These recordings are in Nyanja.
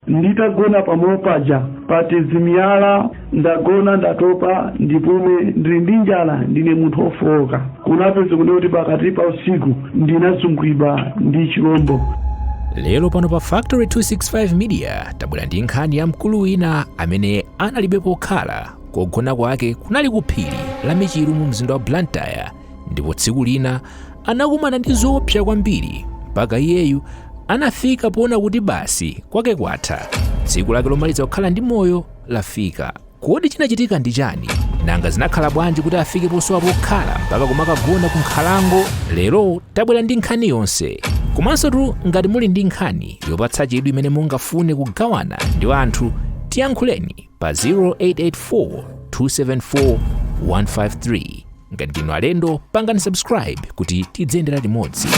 Nditagona pamalo paja pa timiyala, ndagona ndatopa ndipume ndili ndi njala ndine munthu ofooka. Kunapezeka kunena kuti pakati pa usiku ndinazungulidwa ndi chilombo. lero pano pa factory 265 media tabwera ndi nkhani ya mkulu wina amene analibe pokhala kogona kwake kunali ku phiri la michiru mu mzinda wa blantyre ndipo tsiku lina anakumana ndi zoopsa kwambiri mpaka iyeyu anafika poona kuti basi kwake kwatha tsiku lake lomaliza kukhala ndi moyo lafika kodi chinachitika ndi chani nanga zinakhala bwanji kuti afike posowa pokhala mpaka kumakagona ku nkhalango lero tabwera ndi nkhani yonse komanso tu ngati muli ndi nkhani yopatsa chidwi imene mungafune kugawana ndi anthu tiyankhuleni pa 0884 274 153 ngati ndinu alendo pangani subscribe kuti tidziyendera limodzi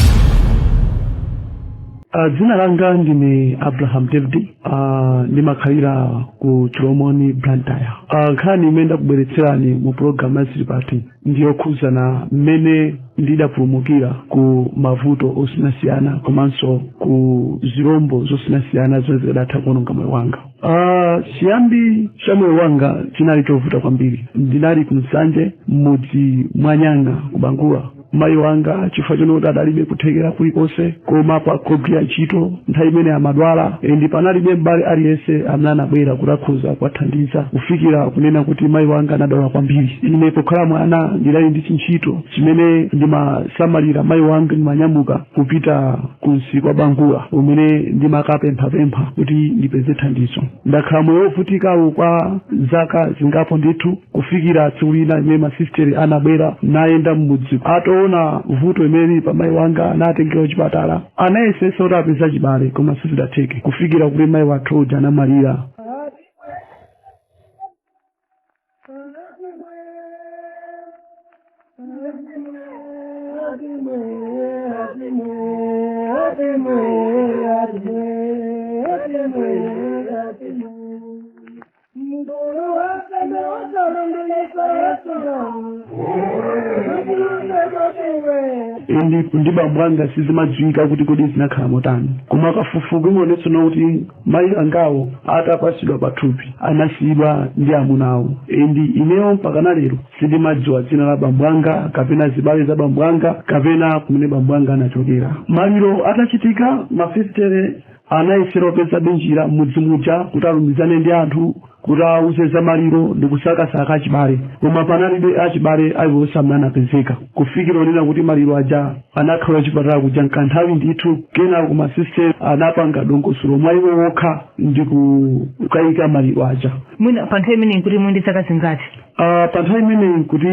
Uh, dzina langa ndine abraham david uh, ndimakhalira ku chilomoni blantyre uh, nkhani imene ndakubweretserani mu pulogalamu ya zili pati ndi yokhudzana mmene ndidapulumukira ku mavuto osiyanasiyana komanso ku zirombo zosiyanasiyana zimene zikadatha kuononga moyo wanga Ah, chiyambi cha moyo wanga chinali chovuta kwambiri ndinali ku nsanje m'mudzi mwa nyanga ku bangula mayi wanga chifukwa chonoti adalibe kuthekera kulikonse kwa kugwira ntchito nthawi imene amadwala and panalibe m'bale aliyense amene anabwera kuti akhoza kuwathandiza kufikira kunena kuti mayi wanga anadwala kwambiri ine pokhala mwana ndinali ndi chintchito chimene ndimasamalira mayi wanga ndimanyamuka kupita kumsika wa bangula umene ndimakapemphapempha kuti ndipeze thandizo ndakhala moyo wovutikawo kwa zaka zingapo ndithu kufikira tsiku lina imene masisiteri anabwera nayenda m'mudzi ataona vuto imene lili pa mayi wanga natengera kuchipatala Anayesetsa kuti apeze achibale koma sizidatheke kufikira kuti mayi wathu uja anamwalira. ndi ndi bambo anga sizimadziwika kuti kodi zinakhala motani koma kafukufuku imaonetsa kuti mayi angawo atapasidwa pathupi anasiyidwa ndi amuna awo and ineyo mpaka na lero sindimadziwa dzina la bambo anga kapena zibale za bambo anga kapena kumene bambo anga anachokera maliro atachitika masisitere Anayesera kupezabe njira m'mudzi muja kuti alumizane ndi anthu kuti awauze za maliro ndi kusakasaka achibale koma panalibe achibale aliwonse amene anapezeka kufikira ponena kuti maliro aja anakhala kuchipatala kuja nkanthawi ndithu kenako ma sister anapanga dongosolo mwa iwo wokha ndi kukayika maliro aja. Mwina pa nthawi imeneyi nkuti muli ndi zaka zingati? Uh, pa nthawi imeneyi nkuti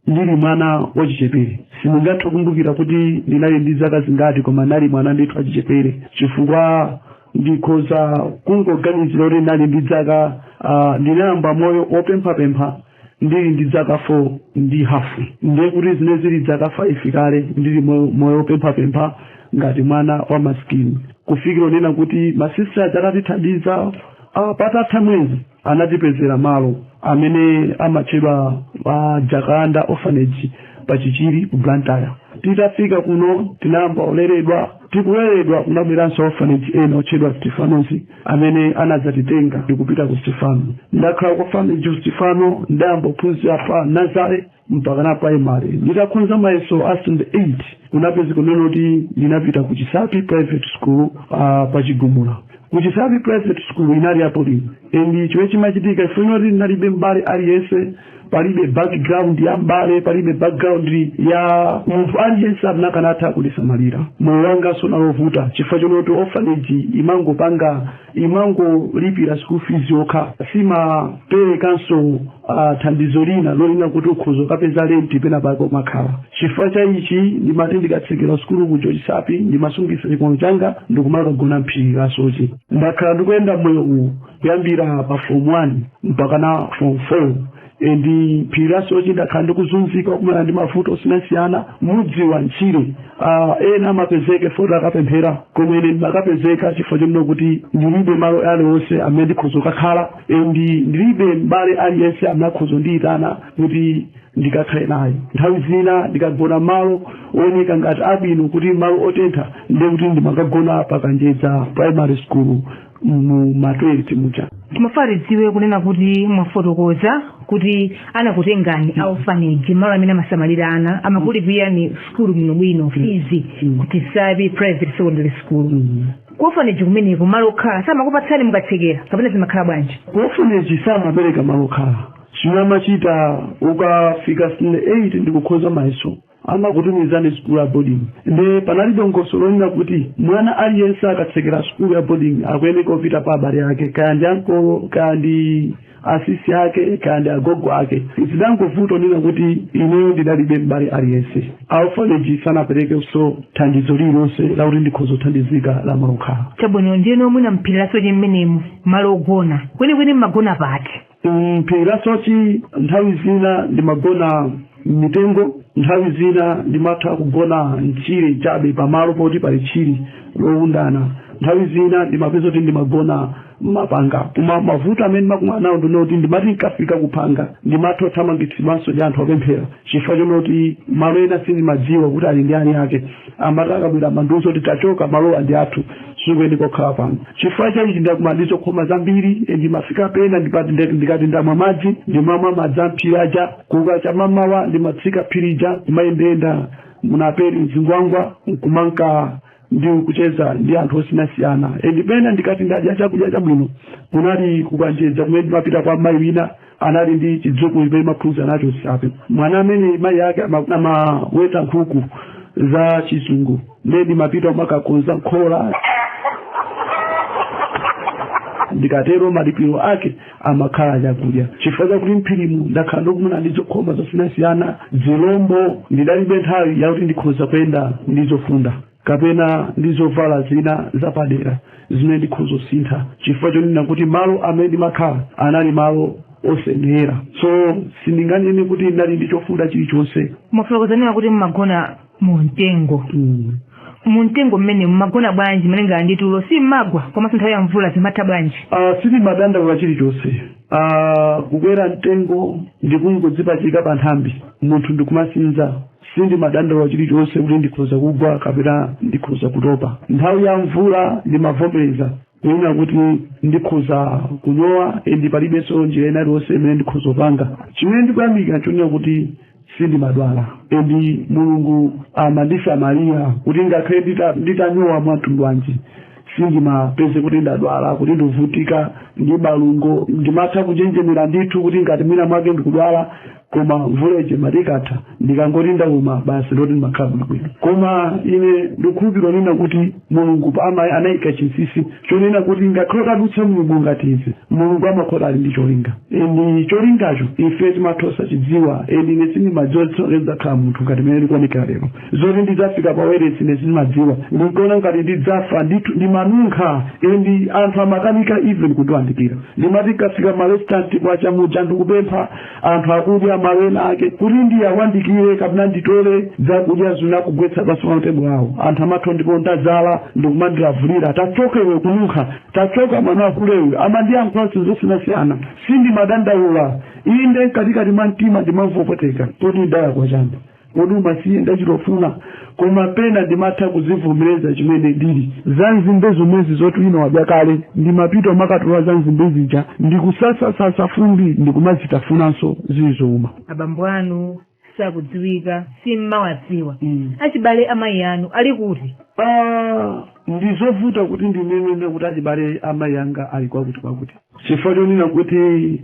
ndili mwana wachichepere sindingathe kukumbukira kuti ndinali ndi zaka zingati koma ndinali mwana ndithu wachichepere chifukwa ndikhoza kungoganizira kuti ndinali ndi dzaka ah, ndinayamba moyo wopemphapempha ndili ndi dzaka 4 ndi hafu ndiye kuti ndimene ndili dzaka 5 kale ndili m'moyo moyo wopemphapempha ngati mwana wa masikini kufikira ponena kuti masisitera atatithandiza ah, patatha mwezi anatipezera malo amene amatchedwa a Jacaranda orphanage pa chichiri ku blantyre titafika kuno tinayamba kuleredwa tikuleredwa kunabweranso a orphanage ena otchedwa stefanos amene anadzatitenga ndikupita ku stefano ndakhala ku orphanage ku stefano ndayamba kuphunzira pa nazare mpaka na primary nditakhoza mayeso a stand 8 kunapezeka kunena kuti ndinapita ku chisapi private school uh, kwa chigumula ku chisapi private school inali ya boarding and chomwe chimachitika kwa ine n'choti ndinalibe mbale aliyense palibe background ya mbale palibe background ya munthu aliyense amene akanatha kundisamalira moyo wanga unali ovuta chifukwa chonena kuti orphanage imangopanga imangolipira school fees yokha simaperekanso ah, thandizo lina lolinga kuti ukhoza kukapeza lenti pena pake kumakhala chifukwa cha ichi ndimati ndikatsekera sukulu ku ku chisapi ndimasungisa chikwama changa ndikumakagona m'phiri la soche ndakhala ndikuyenda moyo uwu kuyambira pa form 1 mpaka na form 4 and m'phiri la soche ndakhala ndikuzunzika kumana ndi mavuto osiyanasiyana moyo wa ntchire Ah, ena amapezeka poti akapemphera koma ine ndimakapezeka chifukwa chonena kuti ndilibe malo aliwonse amene ndikhoza kukakhala and ndilibe m'bale aliyense amene akhoza kundiyitana kuti ndikakhale naye nthawi zina ndikagona malo ooneka ngati abwino kuti malo otentha ndiye kuti ndimakagona pa kanjedza primary school mu matoilet muja timafuna tidziwe kunena kuti mwafotokoza kuti anakutengani a orphanage malo amene amasamalira ana amakulipirani sukulu bwinobwino fizi ku chisapi private secondary school Ku orphanage kumeneko malo okhala samakupatsani mukatsekera kapena zimakhala bwanji? Ku orphanage samapereka malo okhala. Chimene amachita ukafika standard 8 ndikukhoza mayeso amakutumizani sukulu ya boarding nde panali dongosolo lonena kuti mwana aliyense akatsekera sukulu ya boarding akuyeneka kupita kwa abale ake kaya ndi ankolo kaya ndi asisi ake kaya ndi agogo ake zidangovuta onena kuti ineyo ndidalibe m'bale aliyense olo vileji sanaperekenso thandizo lililonse lakuti ndikhoza kuthandizika la malokhala chabwino ndiyeno mwina mphiri la sochi mmenemu malo ogona kwenikweni mmagona pati mphiri la sochi nthawi zina ndimagona mmitengo nthawi zina ndimatha kugona mchire chabe pamalo poti pali tchire lowundana nthawi zina ndimapeza kuti ndimagona mmapanga koma mavuto amene ndimakumana nawo ndi oti ndimati nkafika kuphanga ndimatha kuthamangitsidwanso ndi anthu opemphera chifukwa chonena kuti malo ena sindimadziwa kuti ali ndi eni ake amati akabwera amandiuza kuti tachoka malowa ndi athu sukuyenera kukhala pano chifukwa chaichi ndakumana ndi zokhoma zambiri e, ndimafika pena ndikati ndamwa madzi ndimamwa madzi amphiri aja kukacha mmamawa ndimatsika phirija ndimayendeyenda munaperi mzingwangwa nkumanka ndi kucheza ndi anthu osiyanasiyana and pena ndikati ndadya chakudya chabwino kunali kukanjedza kumene ndimapita kwa mayi wina anali ndi chidzukulu chimene ndimaphunzira nacho so panali mwana amene mayi ake ama- amaweta nkhuku za chizungu ndiye ndimapita kumakakonza nkhola ndikatero malipiro ake amakhala chakudya chifukwa chakuti mphirimu ndakhala ndikukumana ndi zokhoma zosiyanasiyana zilombo ndidalibe nthawi yakuti ndikhoza kuyenda ndi zofunda kapena ndi zovala zina zapadera zimene ndikhoza kusintha chifukwa chonena kuti malo amene ndimakhala anali malo osayenera so sindinganene kuti ndinali ndi chofunda chilichonse mwafotokoza kuti mumagona mu mtengo Mm. mu mtengo mmene mmagona bwanji malingana ndi tulo si mmagwa komanso nthawi ya mvula zimatha bwanji Ah, sindimadandaula chilichonse Ah, kukwera mtengo ndi kungodzipachika pa nthambi munthu ndikumasinza sindimadandaula chilichonse kuti ndikhoza kugwa kapena ndikhoza kutopa nthawi ya mvula ndimavomereza kunena kuti ndikhoza kunyowa endi palibenso njira ina iliyonse imene ndikhoza kupanga chimene ndikuyamika nchonena kuti sindimadwala and Mulungu amandisamalira kuti ngakhale ndita- nditanyowa mwa mtundu wanji sindimapezeka kuti ndadwala kuti ndikuvutika ndi malungo ndimatha kunjenjemera ndithu kuti ngati mwina mwake ndikudwala koma mvula ije imati ikatha ndikangoti ndauma basi ndoti ndimakhala bwinobwino koma ine ndikukhulupirira kunena kuti Mulungu ama anaika chinsinsi chonena kuti ngakhale utadutsa mnyengo ngati izi Mulungu amakhoza ali ndi cholinga and cholingacho ife timatha osachidziwa and ine sindimadziwa kuti tsiku lake ndidzakhala munthu ngati mmene ndikuonekera lero zoti ndidzafika pa wailesi ine sindimadziwa ndinkaona ngati ndidzafa ndithu ndimanunkha and anthu amakanika even kundiwandikira ndimati nkafika ma restaurant kwacha muja ndikupempha anthu akudya malo ena ake kuti ndiyandikire kapena nditole zakudya zina kugwetsa pansi pa matebulo awo anthu amatha mate ndadzala ndikumandilavulira tachoka iwe kununkha tachoka mwana wahule iwe amandiyankhula zinthu zosiyanasiyana sindimadandaula inde mkatikati mwa mtima ndimamva kupweteka kuti ndidalakwa chani Kodi umasiye ndi chitofuna koma pena ndimatha kuzivomereza mmene ndilili za nzimbe zomwezi zoti wina wadya kale ndimapita kumakatola za nzimbe zija ndikusasasasa fumbi ndikumazitafunanso zili zouma abambo anu sakudziwika simmawadziwa Mm. achibale amayi anu ali kuti Ah, ndizovuta kuti ndinene kuti achibale amayi anga ali kwakuti kwakuti chifukwa chonena kuti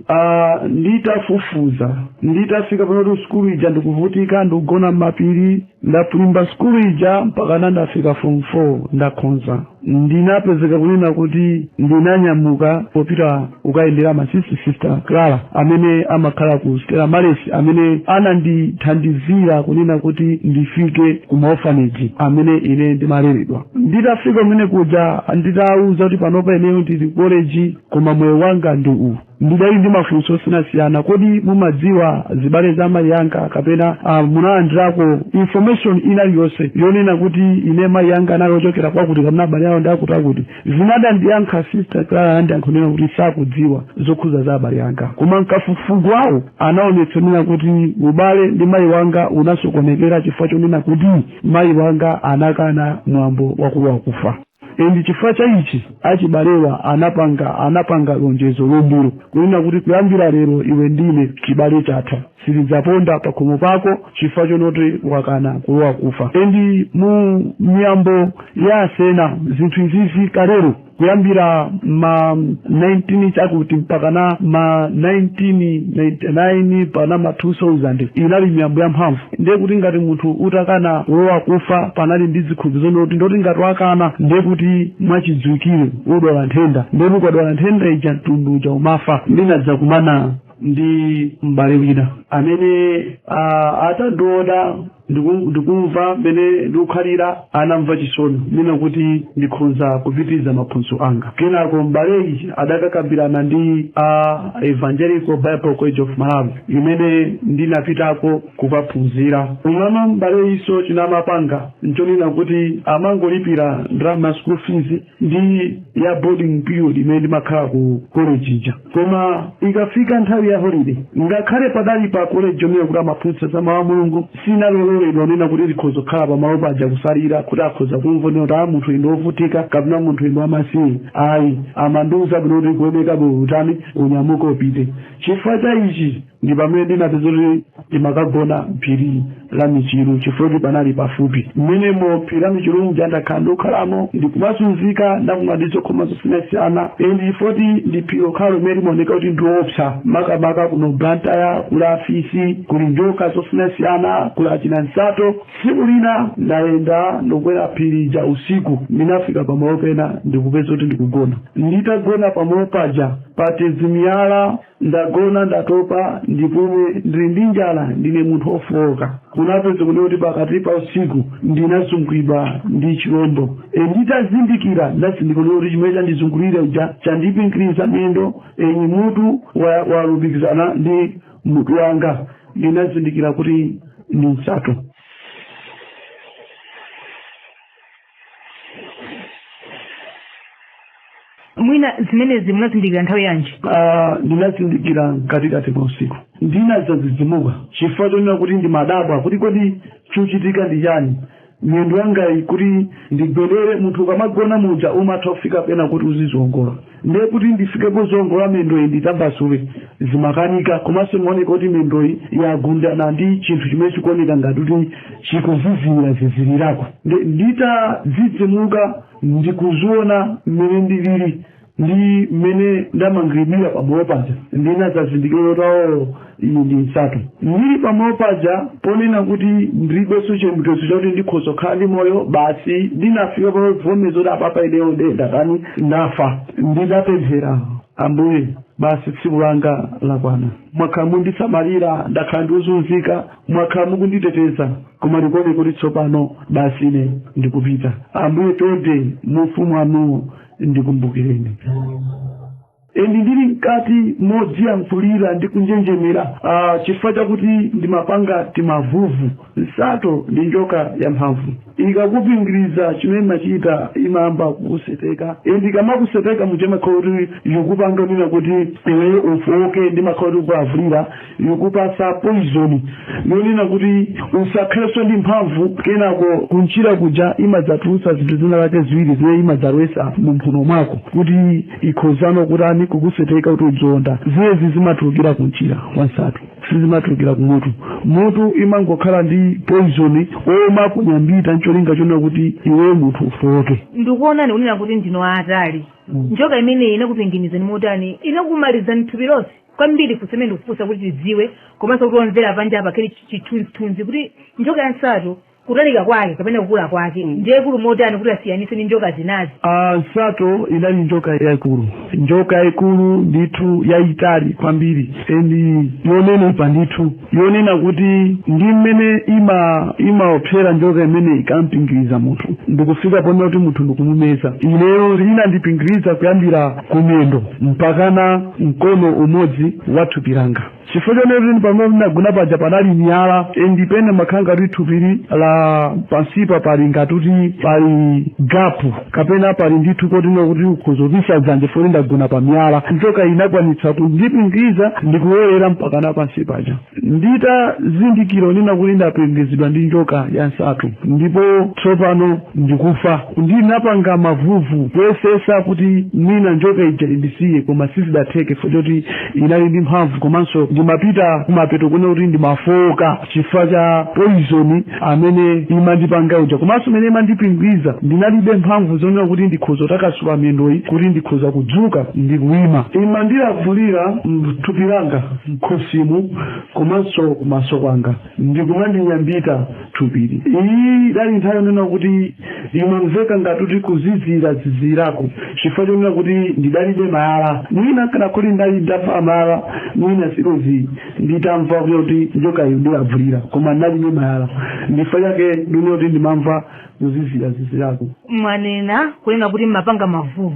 ah, nditafufuza nditafika poti sukulu ija ndikuvutika ndikugona m'mapiri ndapulumba sukulu ija mpakana ndafika form 4 ndakhonza ndinapezeka kunena kuti ndinanyamuka kupita kukayendera masisita sister clara amene amakhala ku stela maris amene anandithandizira kunena kuti ndifike ku maofaneji amene ine ndimaleredwa nditafika kumene kuja nditawauza kuti panopa ineyo ndili koleji koma moyo wanga ndi uwu ndidali ndi mafunso osiyanasiyana kodi mumadziwa zibale za mayi anga kapena ah, munalandirako information ina yonse yonena kuti ine mayi anga anali ochokera kwakuti kapena abale awo ndi akuti akuti zinadandiyankha sister clara anandiyankha kunena kuti sakudziwa zokhuza za abale anga koma mkafukufuku wawo anaonetsa kunena kuti ubale ndi mayi wanga unasokonekera chifukwa chonena kuti mayi wanga anakana mwambo wakulowa kufa and chifukwa cha ichi achibalewa anapanga anapanga lonjezo lumbiro kunena kuti kuyambira lero iwe ndine chibale chatha sitidzaponda pakhomo pako chifukwa chonoti wakana kulowa kufa and mu miyambo ya asena zinthu izizi kalelo kuyambira ma 19 chakuti mpakana ma 1999 mpakana ma 2000 inali miyambo ya mphamvu ndiye kuti ngati munthu utakana kulowa kufa panali ndi zikhulupiriro zonena kuti ndoti ngati wakana ndiye kuti mwachidziwikire udwala nthenda ndiye kuti ukadwala nthenda ija mtundu uja umafa ndinadzakumana ndi m'bale wina amene ah, atandiona ndiku- ndikumva mmene ndikukhalira anamva chisoni kunena kuti ndikhonza kupitiriza maphunziro anga kenako m'baleyi adakakambirana ndi a evangelical bible college of malawi imene ndinapitako kukaphunzira umama m'baleyinso chimene amapanga nchonena kuti amangolipira ndalama school fees ndi ya boarding period imene ndimakhala ku college ija koma ikafika nthawi ya holiday ngakhale padali pa college ponena kuti amaphunzitsa za mawu a mulungu sindinaloledwe kunena kuti ndikhoza kukhala pamalo paja kusalira kuti akhoza kumva kunena kuti munthu uyu ndi wovutika kapena munthu uyu ndi wamasiye ayi amandiuza bwino kuti kuoneka bwino utani unyamuka upite chifukwa cha ichi ndi pamene ndinati zoti ndimakagona mphiri la michiru chifukwa kuti panali pafupi mmenemo phiri la michiru muja ndakhala ndikukhalamo ndikumasunzika ndakumana ndi zokhoma zosiyanasiyana endi chifukwa kuti ndi phiri lokhalo limene limaoneka kuti ndiopsa makamaka kuno blantyre kuli afisi kuli njoka zosiyanasiyana kuli achina nsato tsiku lina ndayenda ndikukwera phiri ja usiku ndinafika pamalo pena ndikupeza kuti ndikugona nditagona pamalo paja patezimiyala Ndagona, ndatopa, ndipomwe ndili ndi njala, ndine munthu ofooka. Kunapeza kunena kuti pakati pa usiku ndinazungulidwa ndi chilombo. E, nditazindikira ndazindikira kuti chimene chandizungulira chija chandipingiriza miyendo, endi mutu wa- walumikizana ndi mutu wanga. Ndinazindikira kuti ndi nsato. mwina zimenezi munazindikira nthawi yanji Ah, ndinazindikira mkatikati mwa usiku ndinazazizimuka chifukwa chonena kuti ndimadabwa kuti kodi chochitika ndi chani miyendo yangayi kuti ndigwedere munthu ukamagona muja umatha kufika pena kuti uziziwongola ndiye kuti ndifike poziwongola mendoyi nditambasule zimakanika komanso imaoneka kuti mendoyi yagundana ndi chinthu chimene chikuoneka ngati kuti chikuzizirira zizirirako Ndi- nditadzidzimuka ndikuziona mmene ndilili ndi mmene ndamangiridwira pamalo paja ndinadzazindikira kuti awo Iyi ndi nsato. Ndiri pa malo paja ponena kuti ndiribenso chiyembekezo chakuti ndikhoza kukhala ndi moyo, basi ndinafika pavomeza kuti apapa ineyo nde ndatani, ndafa. Ndinapemphera, Ambuye, basi tsiku langa lakwana. Mwakhala mukundisamalira, ndakhala ndikuzunzika, mwakhala mukunditeteza, koma zikuoneka kuti tsopano basi ine ndikupita. Ambuye chonde mu ufumu wanuwo ndikumbukireni. N Ndili mkati modziyankhulira ndi kunjenjemera ah chifukwa chakuti ndimapanga timavuvu. Nsato ndi njoka yamphamvu. Ikakupingiriza chimene imachita imayamba kukuseteka and ikamakuseta muja imakhala kuti ikukupanga mwina kuti iweyo ufooke ndimakhala kuti ikukulavulira. ikukupatsa poizoni yonena kuti usakhalenso ndi mphamvu kenako kumchira kuja imadzatulutsa zinthu zina lake ziwiri zimene imadzalowetsa mu mphuno mwako kuti ikhozano kutani kukuseteka kuti udzionda zimenezi zimatulukira kumchira kwansato sizimatulukira kumutu mutu imangokhala ndi poizoni omakunyambita ncholinga chonena kuti iwe munthu ufowoke ndikuonani kunena kuti ndinu aatali njoka imeneyi inakupingirizani motani inakumalizani thupi lonse kwambiri funso limene ndikufunsa kuti tidziwe komanso kuti omvera panja apa akhale ndi chithunzithunzi kuti njoka ya nsato kutalika kwake kapena kukula kwake ndi yaikulu motani kuti asiyanise ndi njoka zinazi Ah, nsato inali njoka yaikulu njoka yaikulu ndithu yayitali kwambiri endi yonenepa ndithu yonena kuti ndi mmene imaopsera njoka imene ikampingiriza munthu nkufika ponena kuti munthu ndikumumeza ineyo inandipingiriza kuyambira kumendo mpakana mkono umodzi wa thupi langa chifukwa choti pamene ndinagona paja panali miyala ndipo ndimakhala ngati thupili la pansipa pali ngati kuti pali gapu kapena pali ndithu kunena kuti ukhoza kupisa dzanja poti ndagona pa miyala njoka inakwanitsa kundipingiriza ndikuwerera mpakana pansi paja nditazindikira kunena kuti ndapingizidwa ndi njoka ya nsato ndipo tsopano ndikufa ndinapanga mavuvu kuyesetsa kuti mwina njoka ija indisiye koma sizidatheke chifukwa choti inali ndi mphamvu komanso ndimapita kumapeto kunena kuti ndimafooka chifukwa cha poizoni amene imandipanga uja komanso mmene imandipingiza ndinalibe mphamvu zonena kuti ndikhoza kutakasula miyendoyi kuti ndikhoza kudzuka ndi kuima imandilavulira mthupi langa mkhosimu komanso kumaso kwanga ndikumandinyambita thupili iyi idali nthawi yonena kuti imamveka ngati kuti kuzizira zizirako chifukwa chonena kuti ndidalibe malaya mwina kanakhala ndali ndavala malaya mwina sikozi nditamva kuti kuti njokayi yandilavulira koma ndinalibe malaya ndifa chake ndine kuti ndimamva kuzizira zizirako mwanena kunena kuti mmapanga mavuvu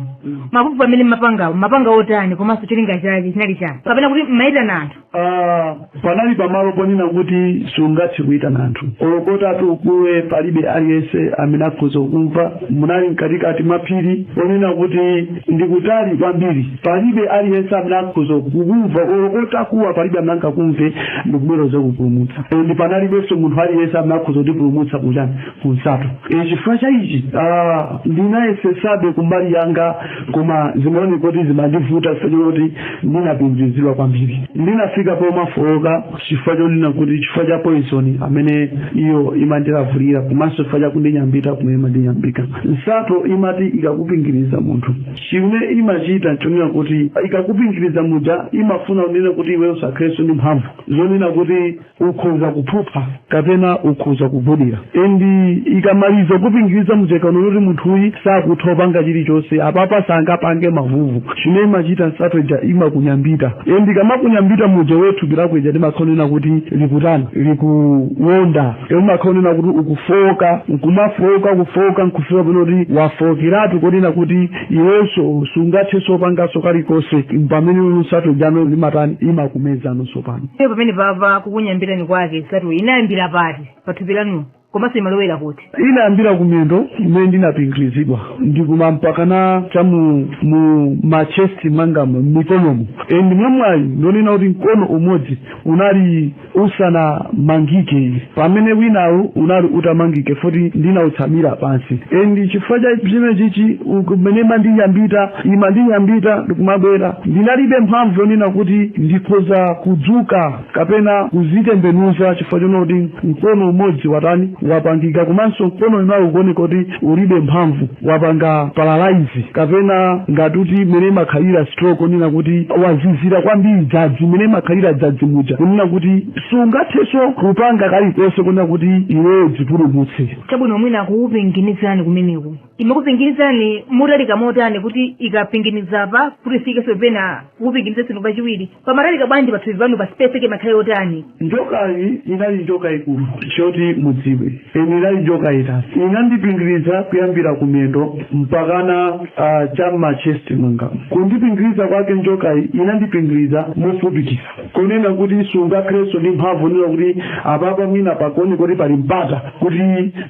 mavuvu amene mmapangawo mmapanga otani komanso cholinga chake chinali chani kapena kuti mmayitana anthu Ah, panali pamalo ponena kuti sungathe kuyitana anthu olo utati ukuwe palibe aliyense amene akhoza kumva munali mkatikati mwa phiri ponena kuti ndikutali kwambiri Palibe aliyense amene akhoza kukumva, olo utakuwa palibe amene angakumve ndi kubwera kudzakupulumutsa. E, ndi panalibenso munthu aliyense amene akhoza kundipulumutsa kuchani ku nsato. E, chifukwa cha ichi ah, ndinayesetsabe kumbali yanga, koma zimaoneka kuti zimandivuta chifukwa chakuti ndinapingirizidwa kwambiri. Ndinafika pomafooka chifukwa chonena kuti chifukwa cha poison amene iyo imandilavulira komanso chifukwa cha kundinyambita kumene imandinyambita. Nsato imati ikakupingiriza munthu. Chimene imachita nchonena kuti ikakupingiriza muja imafuna kunena kuti iweyo usakhalenso ndi mphamvu zonena kuti ukhoza kuphupha kapena ukhoza kugudira and ikamaliza kukupingiriza muja ikaona kuti munthuyi sakutha kupanga chilichonse apapa sangapange mavuvu chimene imachita nsato ija imakunyambita and ikamakunyambita muja iweyo thupi lako lija limakhala lonena kuti likutani likuwonda Imakhala kunena kuti ukufooka nkumafooka kufooka nkufika pena kuti wafookeratu koti kunena kuti iwenso sungathenso kupanganso kalikonse pamene nsato ija imatani imakumezano tsopano Iye pamene papa kukunyambitani kwake nsato inayambira pati pathupi lanu komanso imalowera kuti inayambira kumiyendo kumene ndinapingirizidwa ndikuma mpaka na cha mu, mu machesti mwangamo m'mikonomo and mwamwayi ndonena kuti mkono umodzi unali usanamangike pamene winawu unali utamangike futi ndinawutsamira pansi and chifukwa cha chimene chichi mmene imandinyambita imandinyambita ndikumabwera ndinalibe mphamvu yonena kuti ndikhoza kudzuka kapena kuzitembenuza chifukwa chonoti mkono umodzi watani wamangika komanso mkono winawu ukuoneka kuti ulibe mphamvu wapanga paralyze kapena ngati kuti mmene imakhalira stroke onena kuti wazizira kwambiri dzanzi mmene imakhalira dzanzi muja kunena kuti sungathenso kupanga kalikonse kunena kuti iweyo udzipulumutse chabwino mwina kukupinginizani kumeneku imakupinginizani motalika motani kuti ikapinginiza pa kuti ifikenso pena kukupinginizansoni kachiwiri pamatalika bwanji pathupi panu pa space yake imakhala yotani njokayi inali njoka yaikulu choti mudziwe eni inali njoka yaitali inandipingiriza kuyambira kumiyendo mpakana uh, cha m'machest mwangamo kundipingiriza kwake njokayi inandipingiriza mofupikitsa kunena kuti sungakhalenso ndi mphamvu yonena kuti apapa mwina pakuoneka kuti pali mpata kuti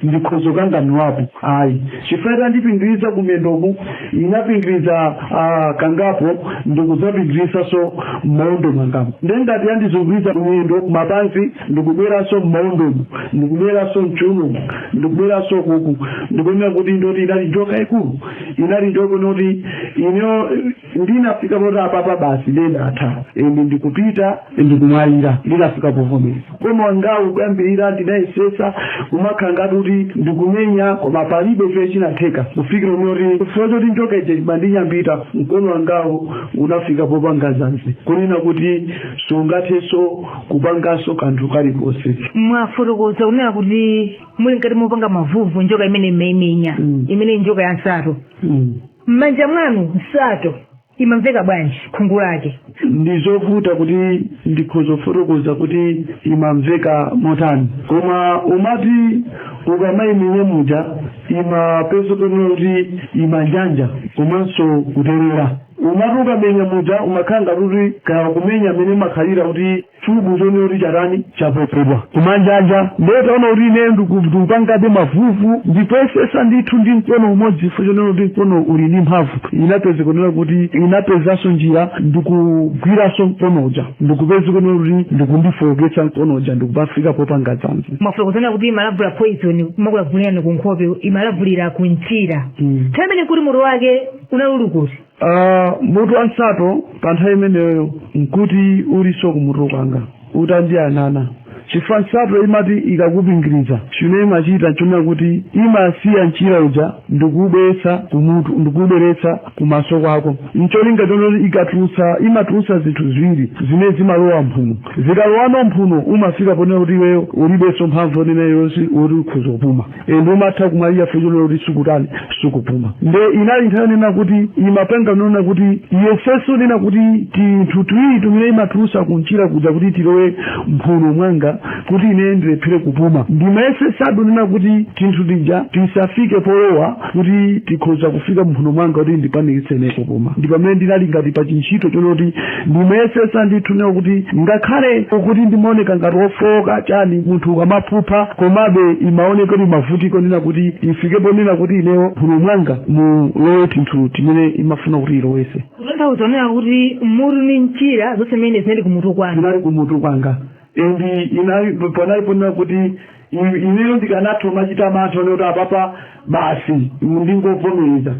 ndikhoza kukanganulapo ayi chifukwa itandipingiriza kumiyendoku inapingiriza ah, kangapo ndikudzapingirizanso m'maondo mwangamu ndiye ngati yandizunguliza miyendo kumapansi ndikubweranso m'maondomu ndikubweranso mchiunomu ndikubweranso kuku ndikuonera kuti ndoti inali njoka yaikulu inali njoka yonoti ineyo ndinafika poti apapa basi ndiye ndatha and ndikupita ndikumwalira ndinafika povomereza Mkono wangawu koyambirira ndinayesetsa kumakhala ngati kuti ndikumenya koma palibe chimene chinatheka kufikira kunena kuti chifukwa choti njoka ija imandinyambita mkono wangawo unafika popanga dzanzi kunena kuti sungathenso kupanganso kanthu kalikonse mwafotokoza kunena kuti muli mkati mopanga mavuvu njoka imene mumaimenya Mm. imene njoka ya nsato Mm. m'manja mwanu nsato imamveka bwanji khungu lake ndi zovuta kuti ndikhoza kufotokoza kuti imamveka motani koma umati ukamaimenya muja imapezeka pena kuti imanjanja komanso kuterera umati ukamenya muja umakhala ngati kuti kaya ukumenya mmene imakhalira kuti chubu chonena kuti chatani chapopedwa kumanjanja ndiye itaona kuti ineyo ndiku- ndikupangabe mavuvu ndikuyesesa ndithu ndi mkono umodzi chifukwa chonena kuti mkono uli ndi mphamvu inapeza kunena kuti inapezanso njira ndikugwiranso mkono uja ndikupeza kunena kuti ndikundifowoketsa mkono uja ndikupafika popanga dzanzi mwafotokoza kunena kuti imalavulira poison imakulavulirani ku nkhope imalavulira ku mchira Mm. nthawi imeneyo nkuti mutu wake unali uli kuti Ah, mutu wa nsato pa nthawi imeneyo nkuti ulinso kumutu kwanga utandiyang'ana chifukwa nsato imati ikakupingiriza chimene imachita nchonena kuti imasiya mchira uja ndikuubweretsa kumutu ndikuubweretsa kumaso kwako ncholinga chonena kuti ikatulutsa imatulutsa zinthu ziwiri zimene zimalowa mphuno zikalowano mphuno umafika ponena kuti iweyo ulibenso mphamvu yonena yonse yoti ukhoza kupuma ende umatha kumwalira chifukwa chonena kuti sukutani sukupuma nde inali nthawi yonena kuti imapanga zonena kuti iyesetse kunena kuti tinthu tiwiri timene imatulusa kunchira kuja kuti tilowe mphuno mwanga kuti ine ndilephere kupuma ndimayesesa ndithu kunena kuti tinthu tija tisafike polowa kuti tikhoza kufika mphuno mwanga kuti ndipanikizike kupuma ndi pamene ndinali ngati pa chintchito chonena kuti ndimayesesa ndithu kunena kuti ngakhale kuti ndimaoneka ngati wofowoka chani munthu ukamaphupha komabe imaoneka kuti imavutika kunena kuti ifike ponena kuti inewo mphuno mwanga mulowe tinthu timene imafuna kuti ilowese kutanthauza kunena kuti mutu ndi mchira zonse mmene zinali kumutu kwanga zinali kumutu kwanga endi inali panali ponena kuti I, ineyo ndikanatha kumachita mantha onena kuti apapa basi ndingovomereza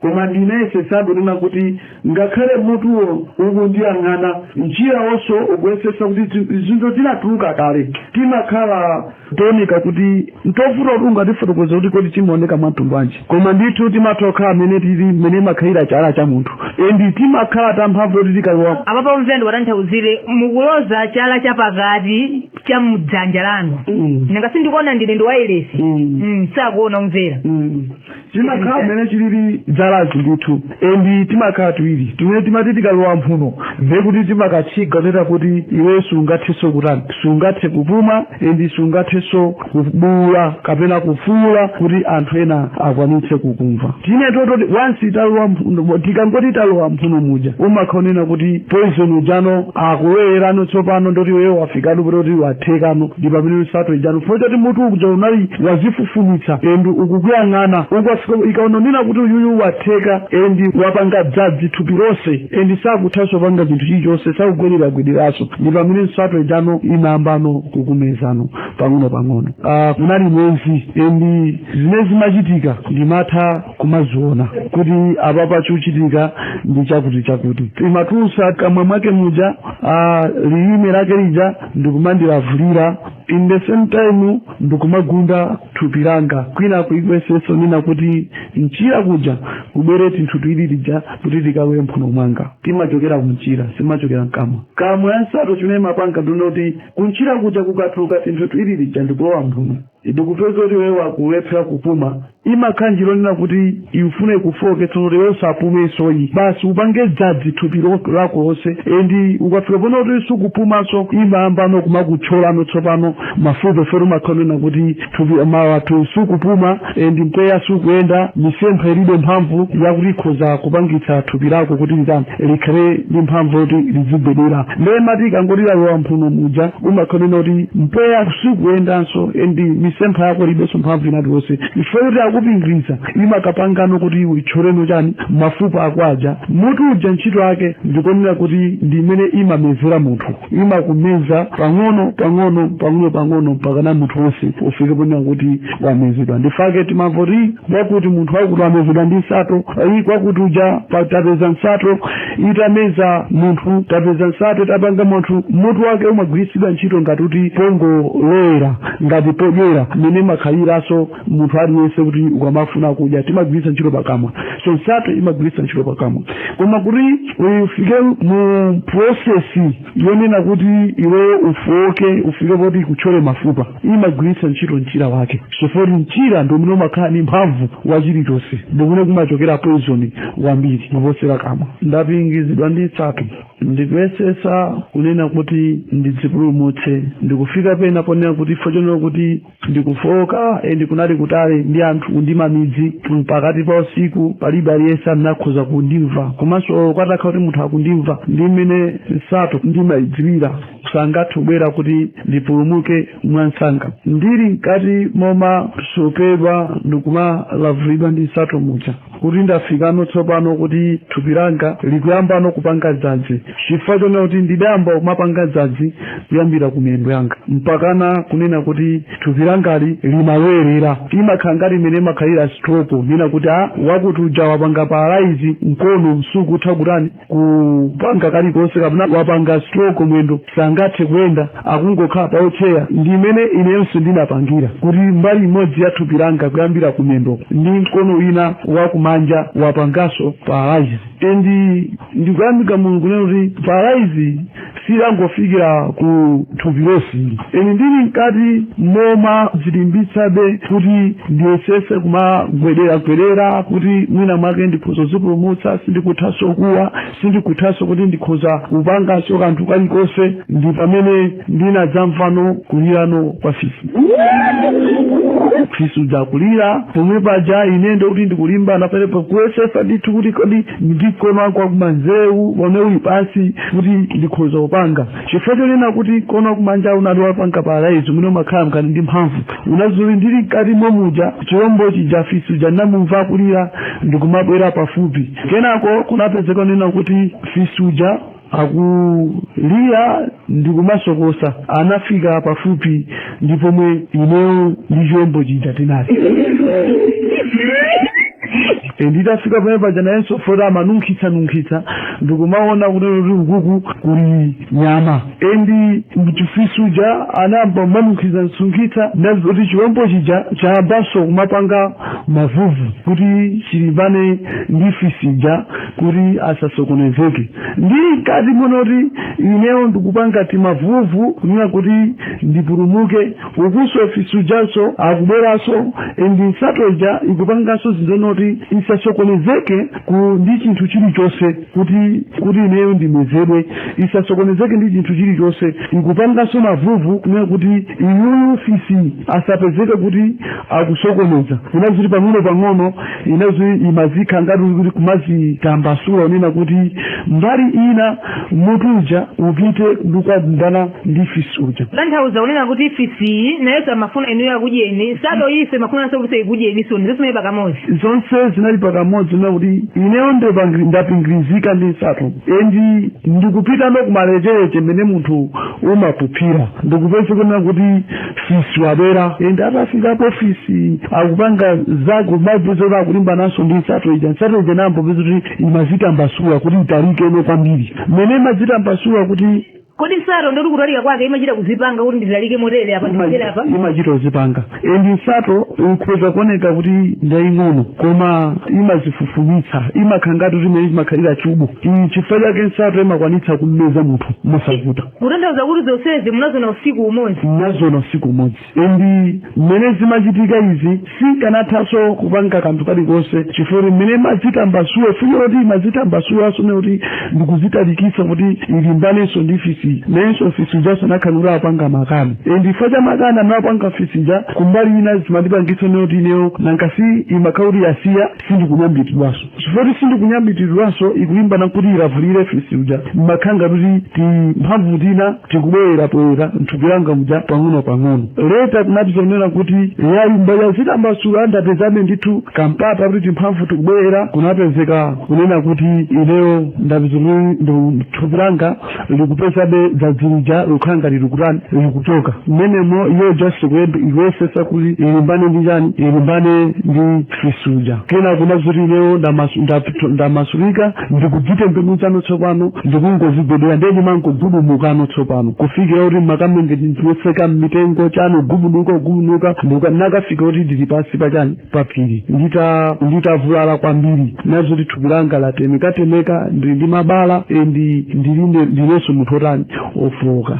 koma ndinayesetsabe kunena kuti ngakhale mutuwo ukundiyang'ana mchirawonso ukuyesetsa kuti zi- zinthu zinatuluka kale timakhala tooneka kuti ntovuta kuti ungatifotokoze kuti kodi timaoneka mwantundu wanji koma ndithu timatha kukhala mmene tili mmene chimakhalira chala cha munthu endi timakhala tamphamvu kuti tikalowa apapa omvera ndiwatanthauzire mukuloza chala chapakati cha mdzanja lanu Mm. nanga sindikuona ndili pa wailesi Mm. Mm, sakuona omvera Mm. timakhala mmene chilili chalachi ndithu endi timakhala tiwiri timene timati tikalowa mphuno ndiye kuti timakatchinga kunena kuti iwe sungathenso kutani sungathe kupuma endi sungathenso kubuula kapena kufuula kuti anthu ena akwanitse kukumva tine tototi once talowa mphuno tikangoti talowa mphuno muja umakhala wonena kuti poison ujano akulowererano tsopano ndiye kuti iweyo wafikano ponena kuti wathekano ndi pamene nsato ijano chifukwa choti mutu uja unali wadzifufumitsa endi ukukuyang'ana ukwafika ikaona kunena kuti uyuyu watheka endi wapanga dzanzi thupi lonse endi sakuthanso kupanga chinthu chilichonse sakugwedera-gwederaso ndi pamene nsato ijano imayambano kukumezano pang'ono-pang'ono Ah, kunali mwenzi endi zimene zinachitika ndimatha kumaziona kuti apa pachuchitika ndi chakuti chakuti imatulutsa kamwa mwake muja ah, lilime lake lija ndikumandilavulira in the same time ndikumagunda thupi langa kwina kuigwetsenso nina kuti mchira kuja kubwere tinthu twili lija kuti tikawere mphuno mwanga timachokera kumchira sitimachokera mkamwa kamwa ya nsato chimene imapanga ndi choti kumchira kuja kukatuluka tinthu twili lija ndikulowa mphuno Ndikupeza kuti iweyo ukulephera kupuma, imakhala njira yonena kuti ikufuna ikufooketse zoti iwe usapumenso yi, basi upange dzadzi thupi lako lonse and ukafika ponena kuti sukupumanso imayambano kumakuthyolano tsopano mafupa chifukwa kuti umakhala wonena kuti thupi ma wathu sukupuma and mpweya sukuyenda, misempha ilibe mphamvu yakuti ikhoza kupangitsa thupi lako kuti litani. likhale ndi mphamvu yoti lizigwedera ndiye imati ikangoti lalowa m'mphuno muja umakhalira kuti mpweya sukuyendanso and misempha yako ilibenso mphamvu inati wonse chifukwa kuti yakupingiriza imakapangano kuti ikuthyoleno chani mafupa ako aja mutu uja ntchito yake ndikonena kuti ndi imene imamezera munthu imakumeza pang'ono pang'ono pang'ono pang'ono mpakana munthu wonse ufike ponena kuti wamezedwa nchifukwa chake timamva kuti kwakuti munthu wakuti wamezedwa ndi nsato iyi kwakuti uja pa- tapeza nsato itameza munthu tapeza nsato itapanga munthu mutu wake umagwiritsidwa ntchito ngati kuti pongolowera ngati podyera mmene imakhaliranso munthu aliyense kuti ukamafuna kudya timagwiritsa ntchito pakamwa so nsato imagwiritsa ntchito pakamwa koma kuti ufike mu prosesi yonena kuti iwe ufooke ufike poti ikuthyole mafupa imagwiritsa ntchito mchira wake chifukwa mchira ndi umene umakhala ndi mphamvu wa chilichonse ndi umene kumachokera poison wambiri kuposera kamwa ndapingizidwa ndi nsato ndikuyesetsa kunena kuti ndidzipulumutse ndikufika pena ponena kuti chifukwa chonena kuti ndikufooka and kunali kutali ndi anthu ndi mmamidzi pakati pa usiku palibe aliyense anakhoza kundimva komanso kukanakhala kuti munthu akundimva ndi mmene nsato ndimayidziwira sangathe kubwera kuti ndipulumuke mwansanga ndili mkati momasopedwa ndikumalavulidwa ndi nsato muja kuti ndafikano tsopano kuti thupi langa likuyambano kupanga dzadzi chifukwa chonena kuti ndidayamba kumapanga dzadzi kuyambira ku miyendo yanga mpakana kunena kuti thupi langali limabwerera imakhala ngati mmene imakhalira stroke kunena kuti a wakuti uja wapanga paralaizi mkono sukutha kutani kupanga kalikonse kapena wapanga stroke mwendo sangathe kuyenda akungokhala pa wheelchair ndi mmene inenso ndinapangira kuti mbali imodzi ya thupi langa kuyambira ku mwendoko ndi mkono wina wakumanja wapanganso paralyze and ndikuyamika mulungu lero kuti paralyze zinangofikira ku thupi lonse ine ndili mkati momadzilimbitsabe kuti ndiyesetse kumagwederagwedera kuti mwina mwake ndikhoza kudzipulumutsa sindikuthanso kuwa sindikuthanso kuti ndikhoza kupanganso kanthu kalikonse ndi pamene ndinadzamvano kulirano kwa fisi fisi akulira pomwe paja ine ndikuti ndikulimbana palepo kuyesetsa ndithu kuti kodi ndi mkono wanga wakumanzewu umene uli pansi kuti ndikhoza kupanga chifukwa chonena kuti mkono wakumanja unali wapanga paralaizi umene umakhala mkati ndi mphamvu ndiye ndili mkati momuja chilombo chija fisi uja ndinamumva akulira ndikumabwera pafupi kenako kunapezeka kunena kuti fisi uja akulira ndikumasokosa anafika pafupi ndi pomwe ineyo ndi chilombo chija tinali endi itafika pamene paja nayenso fota amanunkhizanunkhiza ndikumaona kunena kuti ukuku kuli nyama endi chifisi chija anayamba kumanunkhizanunkhiza ndiye kuti chilombo chija chayambanso kumapanga mavuvu kuti chilimbane ndi fisi uja kuti asasokonezeke ndi mkati momwe kuti ineyo ndikupanga timavuvu kunena kuti ndipulumuke ukunso fisi ujanso akubweranso and nsato ija ikupanganso zinthu zoti isasokonezeke ku ndi chinthu chilichonse kuti kuti ineyo ndimezedwe isasokonezeke ndi chinthu chilichonse ikupanganso mavuvu kunena kuti iyuyu fisi asapezeke kuti akusokoneza inazi kuti pang'ono pang'ono inadzi- imadzikha- ngati kuti kumadzitambasula kunena kuti mbali ina mutu uja upite ukalimbane ndi fisi uja kutanthauza kunena kuti fisiyo naye amafuna inuyo akudyeni nsato iyi imafunanso kuti ikudyeninso ndi zonse zinali pakamodzi zonse zinali pakamodzi kunena kuti ineyo ndipangiri- ndapingirizika ndi nsato endi ndikupita nokumalechereche mene munthu umakuphira ndikupeza kunena kuti fisi wabwera endi atafikapo fisi akupanga zake maipezo kuti akulimbananso ndi nsato ija nsato ija ndikumapeza kuti imadzitambasula kuti italikeno kwambiri mmene imadzitambasula kuti kodi nsato ndiye kuti kutalika kwake imachita kudzipanga kuti nditalike motere apa nditere apa imachita kudzipanga endi nsato ikhoza kuoneka kuti ndaying'ono koma imadzifufumitsa imakhala ngati kuti mmene imakhalira chubu ndi chifukwa chake nsato imakwanitsa kummeza munthu mosavuta kutanthauza kuti zonsezi munaziona usiku umodzi ndinaziona usiku umodzi Endi mmene zimachitika izi sinkanathanso kupanga kanthu kalikonse chifukwa kuti mmene imadzitambasula ifuyo kuti imadzitambasulanso ndiye kuti ndikudzitalikitsa kuti ilimbanenso ndi fisi nayenso fisi uja anakhala kuti akupanga makani endi chifukwa cha makani amene akupanga fisi uja kumbali ina zimandipangitsa kunena kuti ineyo nankasi imakhala kuti yasiya sindikunyambitidwanso chifukwa kuti sindikunyambitidwanso ikulimbana nkuti ilavule fisi uja mmakhanga kuti timphamvu tina tikubwerera poyera mthupi langa muja pang'ono pang'ono leta kunali zonena kuti yayamba kuzitambasula ndapezabe ndithu kampata kuti timphamvu tikubwerera kunapezeka kunena kuti ineyo ndaona thupi langa likupezabe dzadzi lija likukhala ngati likutani likuchoka mmenemo iyo just ikuyesetsa kuti ilimbane ndi chani ilimbane ndi fisi uja kenako kuona kuti ineyo ndamasu- ndapito- ndamasulika ndikudzitembenuzano tsopano ndikungozigwetsera ndiye ndimangogubudukano tsopano kufikira kuti ndimakamenyetseka mmitengo chani gubuduka gubuduka ndinakafika kuti ndili pansi pa chani paphiri ndita nditavulala kwambiri nazoti thupi langa latemekatemeka ndili ndi mabala endi ndiline ndinenso munthu otani ofooka